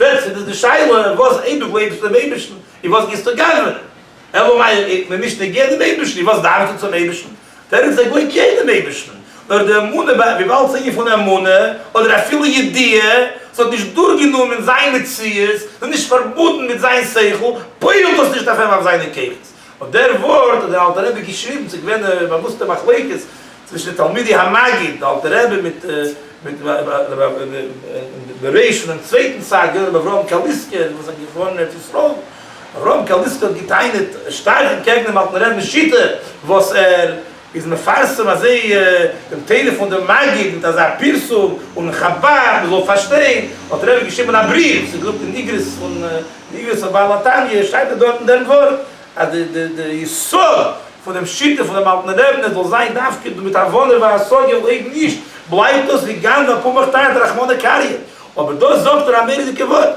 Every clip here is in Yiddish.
ווען ס'איז דאס די שאלה וואס אויב דו גלויבסט אינעם אייבערשטן און וואס גייסטו גנב'נען? אלא מאי איז מען נישט נוגע דעם אייבערשטן און וואס דארפסטו צום אייבערשטן? דער איז זייער נוגע דעם אייבערשטן, נאר די אמונה וויבאלד ס'איז א ענין פון אמונה אדער אפילו ידיעה, ס'האט נישט דורכגענומען זיין מציאות, ס'איז נישט פארבונדן מיט זיין שכל, פועל'ט דאס נישט אויף אים אויף זיינע כוחות. אויף דער ווארט האט דער אלטער רבי געשריבן, ס'איז געווען א באוואוסטע מחלוקת צווישן די תלמידי המגיד, דער אלטער רבי מיט מיט דער ר' פונעם צווייטן צד, געווען ר' אברהם קאליסקער וואס איז געפארן אין ארץ ישראל, ר' אברהם קאליסקער האט געטענה'ט שטארק אנטקעגן דעם אלטן רבינ'ס שיטה וואס ער איז מפרסם אזוי דעם טעלעפאן דעם מגיד מיט אזא פרסום און חבד מען זאל פארשטיין האט רבי געשריבען א בריוו וואס איז געדרוקט אין איגרות פון די איגרות פון בעל התניא שטייט דארט דארט אין דעם ווארט אז די די די יסוד פון דעם שיטה פון דעם אלטן רב נ זאל זיין דווקא דא מיט הבנה והשגה און אויב נישט בלייבט דאס ווי גנב א פומפך תרתי רחמנא קריא אבער דאס זאגט ער א מוראדיגע ווארט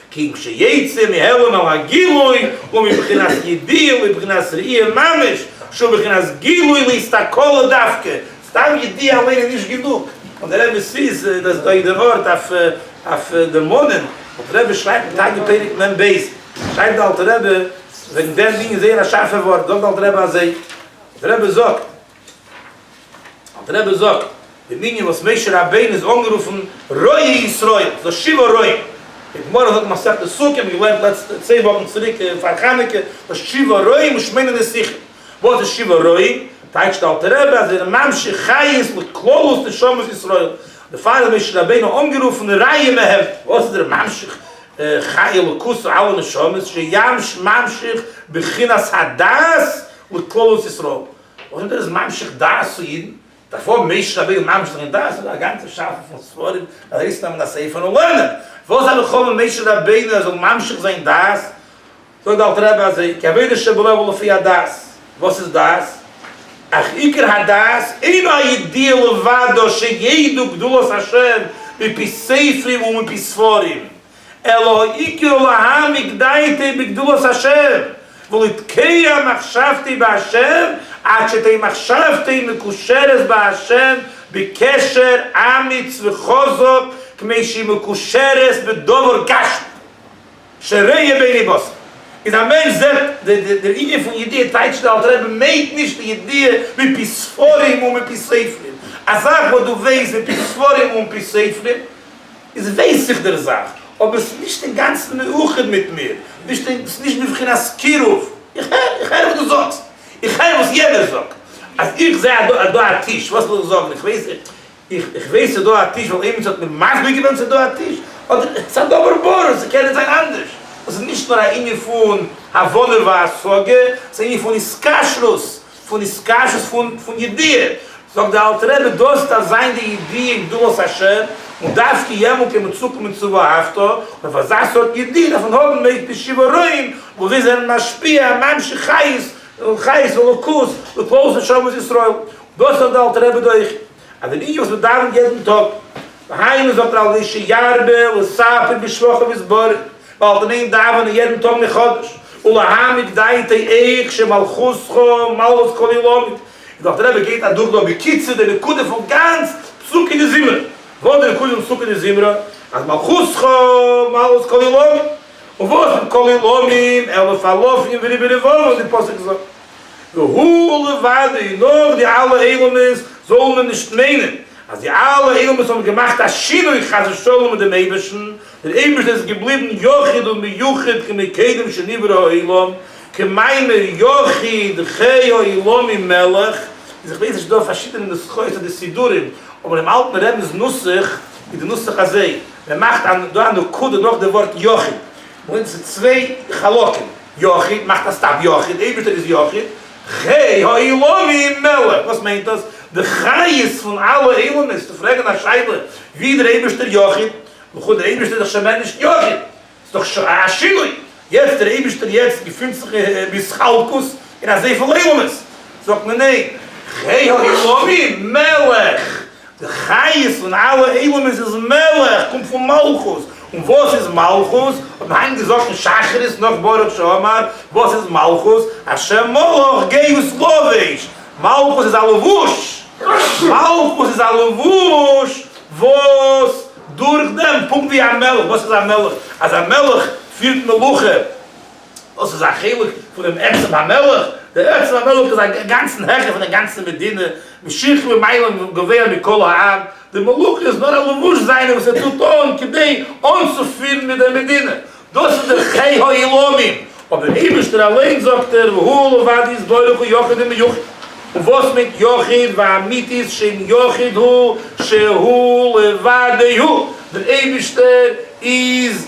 כגון שיצא מהעלם על הגילוי הוא מבחינת ידיעה ובבחינת ראייה ממש שהוא בבחינת גילוי להסתכלו דווקא, סתם ידיעה אליין איז נישט גענוג, און דער רבי ס'איז דאס דא יעדער ארט אויף די מנין, אלטער רבי שרייבט אין תניא פרק מ ב, שרייבט די אלטער רבי וועגן דעם ענין זייער א שארפע ווארט, זאגט די אלטער רבי אזוי, דער רבי זאגט, אלטער רבי זאגט די מנין וואס משה רבינו איז אנגערופן רועה ישראל, ס'איז א שבעה רועים, די גמרא זאגט אין מסכת סוכה, מיר האבן געלערנט לעצטע צען וואכן צוריק פאר חנוכה, וואס שבעה רועים ושמונה נסיכים, וואס איז שבעה רועים, טייטשט אלטער רבי אז ער איז ממשיך חיות לכללות נשמות ישראל, דערפאר איז משה רבינו אנגערופן רעיא מהעבדין, וואס איז דער ממשיך חיות אלוקות אלע נשמות, שימש ממשיך בחינת הדעת לכללות ישראל. אויב איז עס ממשיך דעת פון אידן, דארף אויב משה רבינו ממש זיין דעת און א גאנצע שאפע פון ספרים ארויסנעמען א ספר און לערנען, וואס האב איך אויב משה רבינו זאל ממשיך זיין דעת, זאגט די אלטע רבי אזוי, כי עבודה שבלב הוא לפי הדעת, וואס איז דעת? אך עיקר הדעת אינו הידיעה לבדו שידעו גדולת השם מפי ספרים ומפי ספרים, אלא העיקר להעמיק דעתי בגדולת השם, ולהתקיה מחשבתי בהשם, עד שתהא מחשבתי מקושרת בהשם בקשר אמיץ וחזק כמי שהיא מקושרת בדבר גשמי, שריה בעיני בשר. איז א מענטש זעט דער ענין פון ידיעה טייטשט דער אלטער רבי מיינט נישט די ידיעה מפי ספרים ומפי ספרים, א זאך וואס דו ווייסט מפי ספרים ומפי ספרים, איז ווייס איך דער זאך, אבער ס'איז נישט אינגאנצן מאוחד מיט מיר, נישט אין, ס'איז נישט בבחינת קירוב. איך הער, איך הער וואס דו זאגסט, איך הער וואס יענער זאגט. אז איך זע אז דא, דא א טיש, וואס וויל איך זאגן, איך ווייס, איך, איך ווייס ס'איז דא א טיש ווייל איינמאל ס'האט מיר מסביר געווען ס'איז דא א טיש, אדער, ס'א דבר ברור, ס'קען נישט זיין אנדערש. דאס איז נישט נאר א ענין פון הבנה והשגה, ס'איז א ענין פון התקשרות. פון נישקשות פון פון ידיעה, זאגט די אלטע רבי דאס איז א זיין די ידיעה גדולת השם, און דווקא יעמאלט קען מען צוקומען צו ואהבת, און אויף אזא סארט ידיעה דארף מען האבן מ פ שבעה רועים, וואס זיי זענען משפיע ממשיך חיות, חיות אלוקות, לפעול לשבת ישראל, דאס זאגט די אלטע רבי דאך. אז די ביקורת וואס מ'דאווענט יעדן טאג, והיינו זאגט ר' אלישע ירבה לספר בשבחיו ויסבוריו, ווייל פון אים דאווען מיר יעדן טאג מחדש, ולהעמיק דעתי איך שמלכותך מלכות כל עולמי, און דאך דער רבי געבט אדורך דא בקיצור די נקודה פון גאנץ פסוקי דזמרה, וואס איז די נקודה פון פסוקי דזמרה? אז מלכותך מלכות כל עולמי, און וואס איז כל עולמים? אלף אלפים וריבו רבבות ווי פסוק זאגט. והוא לבדו, נאך די אלע אילומות זאל מען נישט מיינען אז די אלע אילומות האבן געמאכט א שינוי חס ושלום מיט דעם אייבערשטן, דער אייבערשטער איז געבליבן יחיד ומיוחד כמקדם שנברא העולם, כמאמר יחיד חי העולמים מלך, און איך ווייס נישט דא פארשידענע נוסחאות אדער סידורים, אבער דעם אלטן רעבינ'ס נוסח איז די נוסח אזוי, מען מאכט דא א נקודה נאך די ווארט יחיד. וואוינט צו צוויי חלקים, יחיד, מאכט א סטאפ, יחיד, אייבירשטער איז יחיד, חי העולמים מלא, וואס מיינט דאס? די חיות פון אלע עולמות, צו פרעגן א שאלה ווי איז דער אייבירשטער יחיד, וכו', דער אייבירשטער איז דאך שוין מער נישט יחיד, ס'איז דאך א שינוי, יעצט דער אייבירשטער יעצט געפינט זיך בהתחלקות אין אזויפיל עולמות, זאגט מען ניין, חי העולמים מלא, די חיות פון אלע עולמות איז מלך, קומט פון מלכות. און וואס איז מלכות? האט מען היינט געזאגט אין שחרית נאך ברוך שאמר, וואס איז מלכות? השם מלך געב עס לבוש, מלכות איז א לבוש, מלכות איז א לבוש וואס דורך דעם, פונקט ווי א מלך, וואס איז א מלך? אז א מלך פירט מלוכה, וואס איז א חלק פון דעם עצם המלך? דער עצם המלך איז א גאנצן העכער פון דער גאנצער מדינה, משיך למעלה גבוה מכל העם, די מלוכה איז נאר א לבוש זיינער וואס ער טוט אן כדי אנצופירן מיט דער מדינה, דאס איז דער חי העולמים, אבער דער אייבערשטער אליין זאגט ער והוא לבד יתברך הוא יחיד ומיוחד, און וואס מיינט יחיד ואמיתית שם יחיד הוא שהוא לבדהו, דער אייבערשטער איז.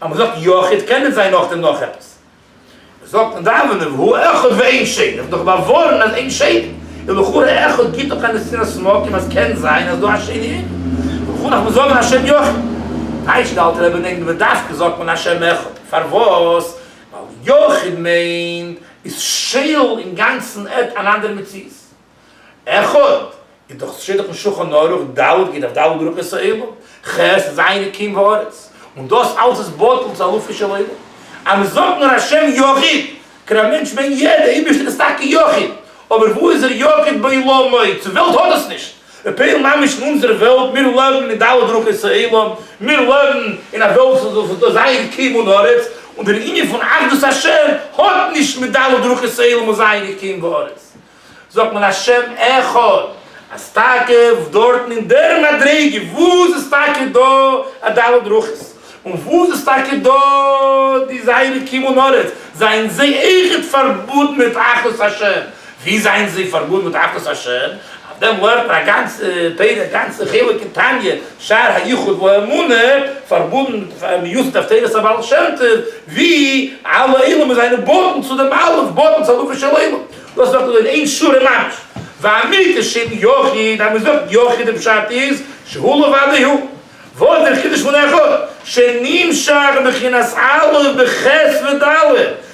אז מען זאגט יחיד קען נישט זיין נאכדעם נאך עפעס. מען זאגט אין דאווענען והוא אחד ואין שני, איך האב דאך באווארנט אז אין שני, איז לכאורה אחד גיט דאך א נשיאת סמאקים אז קען זיין אז דא א שני אין, וכו' נאכן זאגן השם יחיד. טייטשט די אלטע רבי נעגן ודווקא זאגט מען השם אחד, פארוואס? ווייל יחיד מיינט איז שייל אינגאנצן עט אן אנדערע מציאות. אחד איז דאך שטח פון שולחן ערוך ד' ג אויף ד' ברכות העולם, ח' ז' אלקים וארץ, און דאס אלס איז בטל צו אלפים של עולם, אז מען זאגט נאר השם יחיד, קען א מענטש מיינען יעדע, איבערשטען איז טאקע יחיד, אבער וואו איז ער יחיד בעולמו, צו וועלט האט עס נישט, מען פעלן ממש אין אונזערע וועלט, מיר לעבן אין ד' ברכות העולם, מיר לעבן אין א וועלט וואס איז דא ז' אלקים און ארץ, און דער ענין פון אחדות השם האט נישט מיט ד' ברכות העולם און ז' אלקים וארץ, זאגט מען א שם אחד, אז טאקע דארטן אין דער מדריגה וואו עס איז טאקע דא א ד' ברכות, און וואו עס איז טאקע דא די זייערע כיוון ארץ, זענען זיי אויכעט פארבודן מיט אחדות השם. וואו זענען זיי פארבודן מיט אחדות השם? אויף דעם לערנט מען א גאנצע פרק, א גאנצע חלק אין תניא, שער היחוד והאמונה, פארבודן מיוסד אויף תורת הבעל שם טוב, וואו אלע עולמות זענען בוטן צו דעם אלף, בוטן צו אלופי של עולם. דאס ווערט געזאגט אין שו ר מנש, והמיתה של יחיד, אז מען זאגט יחיד די פשט איז שהוא לבדו הוא, ועוד אין חידוש פון אחד שנמשך בחינת א' בח' וד'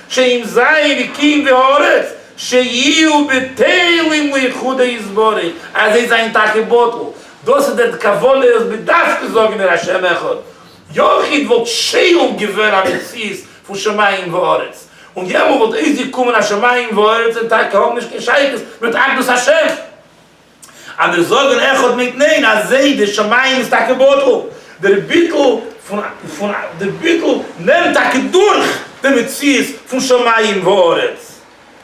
שאם ז' אלוקים והארץ שיהיו בטלים ליחודו יתברך אז זיי זענען טאקע בטל, דאס איז דער כוונה וואס מ'דארף צו זאגן אין השם אחד. יחיד וואלט שואל געווען א מציאות פון שמים וארץ, און יעמאלט וואלט אויסגעקומען אז שמים וארץ און טאקע האבן נישט קיין שייכות מיט אחדות השם. אדער זאגן אחד מיט ניין אזי די שמים איז טאקע בטל, דער ביטול פון דער ביטול נעמט טאקע דורך די מציאות פון שמים וארץ.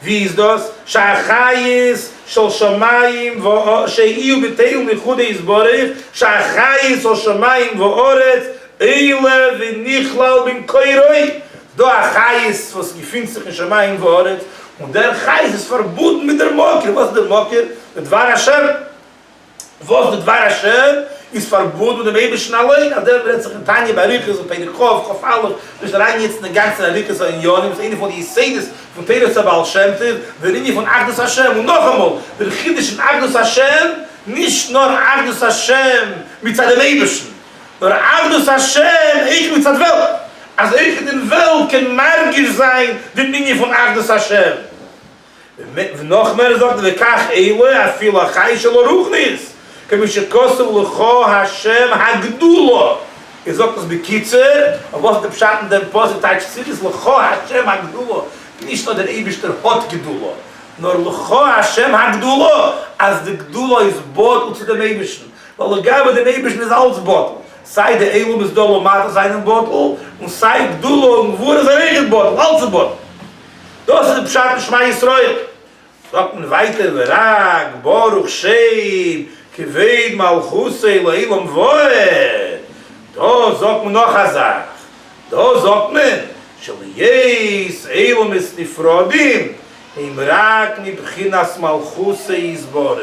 ווי איז דאס שהחיות של שמים וארץ שיהיו בטל מחודו יתברך, שהחיות של שמים וארץ עולה ונכלל במקורו, דא א חיות וואס געפינט זיך אין שמים וארץ, און דער חיות איז פארבונדן מיט דער מקור, וואס איז דער מקור? דער דבר השם. וואס די דבר השם איז פארבאט מיט דעם אייבערשטן אליין, אז דערויף רעדט זיך אין תניא באריכות אין פרק כא, כא א, נישט אריינגיין יעצט אינגאנצן אין ארוכות הענינים, וואס איז איינע פון די יסודות פון תורת הבעל שם טוב, דער ענין פון אחדות השם, און נאכאמאל, דער חידוש אין אחדות השם, נישט נאר אחדות השם מצד דעם אייבערשטן, נאר אחדות השם אויך מצד וועלט, אז אויך אין דער וועלט קען מרגיש זיין דעם ענין פון אחדות השם. ונאך מער זאגט ער וכך עלה אפילו החי שלא רוחנית כמי שכתוב לך ה' הגדולה ער זאגט עס בקיצור אבער וואס איז די פשט אין דעם פסוק טייטש צירית לך ה' הגדולה נישט נאר דער אייבערשטער האט גדולה נאר לך ה' הגדולה אז די גדולה איז בטל צו דעם אייבערשטן ווייל לגבי דעם אייבערשטן איז אלץ בטל סיי די עלמות דלא מעטה זענען בטל און סיי גדולה און גבורה זענען אויכעט בטל אלץ איז בטל. דאס איז פשט אין שמע ישראל. זאגט מען ווייטער ורק ברוך שם כבוד מלכותו לעלם ועד, דאס זאגט מען נאך א זאך, דאס זאגט מען שלהיות עולמות נפרדים הם רק מבחינת מלכותו יתברך,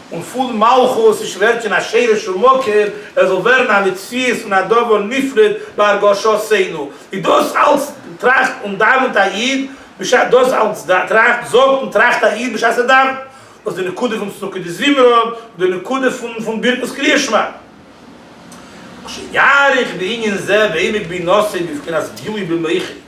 און פון מלכות איז שווער צו א שרש ומקור ער זאל ווערן א מציאות און א דבר נפרד בהרגשותינו, איז דאס אלץ טראכט און דאווענט א איד בשעת דאס אלץ טראכט זאגט און טראכט א איד בשעת ער דאווענט, וואס די נקודה פון צדקה דזמרה און די נקודה פון ברכות קריאת שמע. וכשיאריך בענין זה ועמק בי נושא בבחינת גילוי במוחי.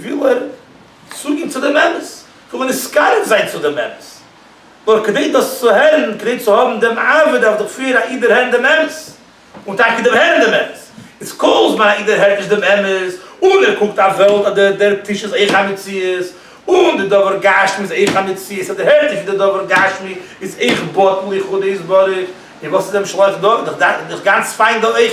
וויל ער צוגין צו דעם אמת, וויל מען נישט קרוב זיין צו דעם אמת, נאר כדי דאס צו הערן, כדי צו האבן דעם אהבה דארף דאך פריער א איד דערהערן דעם אמת, און טאקע דעם הערן דעם אמת, איז כל זמן א איד דערהערט נישט דעם אמת, און ער קוקט אויף וועלט אז דער דער טיש איז אויך א מציאות, און דער דבר גשמי איז אויך א מציאות, ער דערהערט נישט ווי דער דבר גשמי איז אויך בטל לכבודו יתברך, און וואס איז דעם שלח דא, איז דאך גאנץ פיין דא אויך.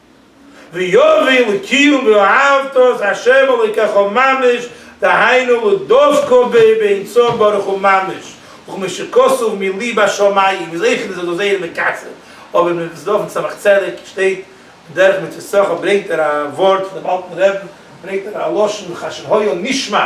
ויביא לקיום ואהבת את ה' אלוקיך ממש, דהיינו לדבקו ב באינסוף ברוך הוא ממש, וכמו שכתוב מילי בשמים, ווי אויך איז דאס זייער מקצר, אבער מען וועט עס דורכן צמח צדק שטייט דרך מצות שכר ברענגט ער א ווארט פונעם אלטן רעבן, ברענגט ער א לשון חשב היה נשמע,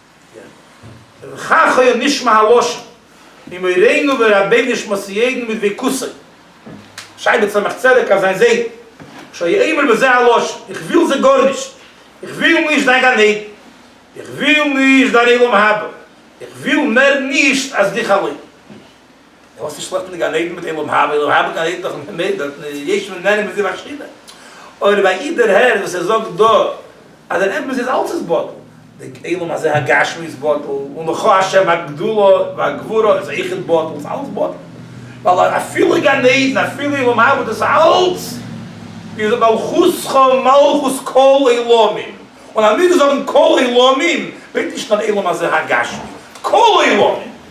ובכך היה נשמע הלשון, ממורינו ורבינו שמו סיידן מדביקותו שי בן שמח צדק אויף זיין זיידן, שהיה אומר בזה הלשון, איך וויל זיי גארנישט, איך וויל נישט דיין גן עדן, איך וויל נישט דיין עולם הבא, איך וויל מער נישט אז דיך אליין. און וואס איז שלעכט מיט די גן עדן מיט עולם הבא, עולם הבא גן עדן דאך אין הימל דארט איז יש מן נערים מזיו השכינה, אוי רבי איד דערהער וואס ער זאגט דא אז דער אמת איז אלס איז בטל, די עולם הזה הגשמי איז בטל, און לך השם הגדולה והגבורה איז אויך בטל, איז אלס בטל, ווייל אפילו גן עדן אפילו עולם הבא דאס אלס איז מלכותך מלכות כל עולמים, און אז מיר זאגן כל עולמים מיינט נישט נאר עולם הזה הגשמי, כל עולמים!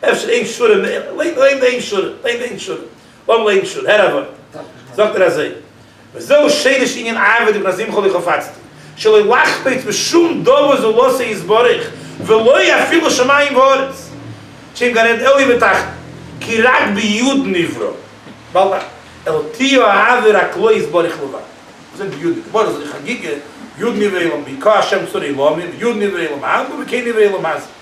אפשר איין שורה מער, ליין ליין איין שורה, ליין איין שורה, לאמיר ליינען שורה, הער א ווארט, זאגט ער אזוי, וזהו שרש ענין אעבד מפני זימך לי חפצתי, שלא לחפץ בשום דבר זו לו עשה יתברך, ולא אפילו שמים וארץ, שאין גן עדן עליון ותחתון, כי רק ביוד נברא, בל נ, אלא תהיה האהבה רק לו יתברך לבד. וואס מיינט ביוד נברא? מוהרא ש זאגט אין חגיגה, יוד נברא אילם בי, כ א השם צור אילמים, יוד נברא אילם אהבה, וכ נברא אילם עזה.